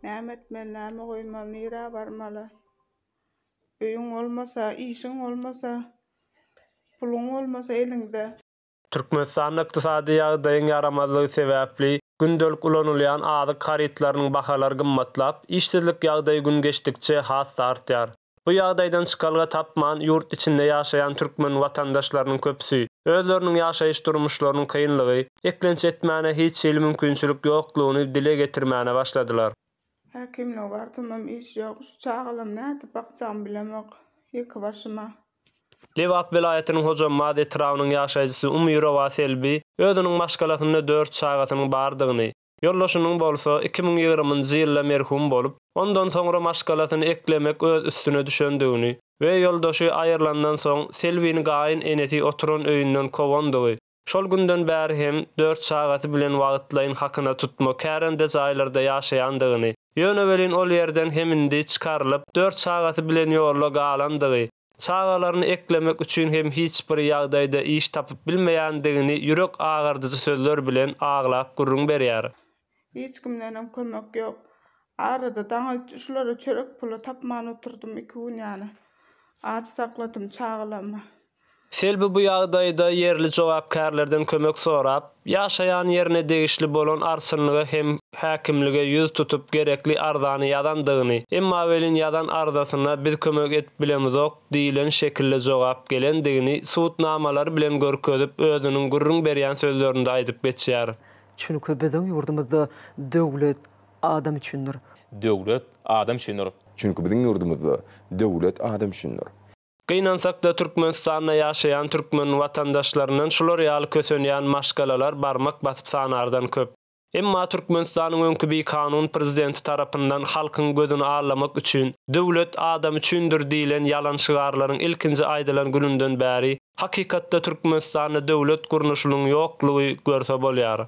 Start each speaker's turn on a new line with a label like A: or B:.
A: Näme etmeli, näme goýmaly, nirä barmaly? Öýüň bolmasa, işiň bolmasa, puluň bolmasa eliňde. Türkmenistanda
B: ykdysady ýagdaýyň ýaramazlygy sebäpli, gündelik ulanylýan azyk harytlarynyň bahalary gymmatlap, işsizlik ýagdaýy gün geçdikçe has-da artýar. Bu ýagdaýdan çykalga tapman, ýurt içinde ýaşaýan türkmen watandaşlarynyň köpüsi, özleriniň ýaşaýyş-durmuşlarynyň kynlygy, eklenç etmäne hiç hili mümkinçilik ýoklugyny dile getirmäne başladylar. Häkimlige
A: barsamam iş ýok, şu çagalamy nädip bakjagymy bilemok, ýeke başyma. Lebap
B: welaýatynyň Hojambaz etrabynyň ýaşaýjysy Umyrowa Selbi özüniň maşgalasynda dört çagasynyň bardygyny, Ýoldaşynyň bolsa iki müň ýigriminji ýylda merhum bolup, ondan soňra maşgalasyny eklemek öz üstüne düşendigini we ýoldaşy aýrylandan soň Selbini gaýyn enesi oturan öýünden kowandygy, şol günden bäri hem dört çagasy bilen wagytlaýyn hakyna tutma kärende jaýlarda ýaşaýandygyny, ýöne welin ol ýerden hem indi çykarylyp, dört çagasy bilen ýolda galandygy, Çagalaryny eklemek üçin hem hiç bir ýagdaýda iş tapyp bilmeýändigini ýürek agardyjy sözler bilen aglap gürrüň berýär. Hiç kimdenem
A: kömek ýok. Arada daňylç şulara çörek puly tapman oturdym, iki gün ýaly aç sakladym çagalarymy. Selbi
B: bu ýagdaýda ýerli jogapkärlerden kömek sorap, Ýaşaýan ýerine degişli bolan arsynlyga hem häkimlige ýüz tutup gerekli arzany ýazandygyny, emma welin ýazan arzasyna biz kömek edip bilemizok diýilen şekilde jogap gelendigini sud namalary bilen görkezip özüniň gürrüň berýän sözlerinde aýdyp geçýär. Çünki biziň
C: ýurdumyzda döwlet adam üçindir. Döwlet
D: adam üçindir. Çünki biziň ýurdumyzda
E: döwlet adam üçindir. Gynansakda
B: Türkmenistanda ýaşaýan türkmen watandaşlaryndan şular ýaly kösenýän maşgalalar barmak basyp sanardan köp. Emma Türkmenistanyň öňki bikanun prezidenti tarapyndan halkyň gözüni allamak üçin Döwlet adam üçindir diýlen ýalan şygarlaryň ilkinji aýdylan gününden bäri hakykatda Türkmenistanda döwlet gurnuşynyň ýoklugy görse bolýar.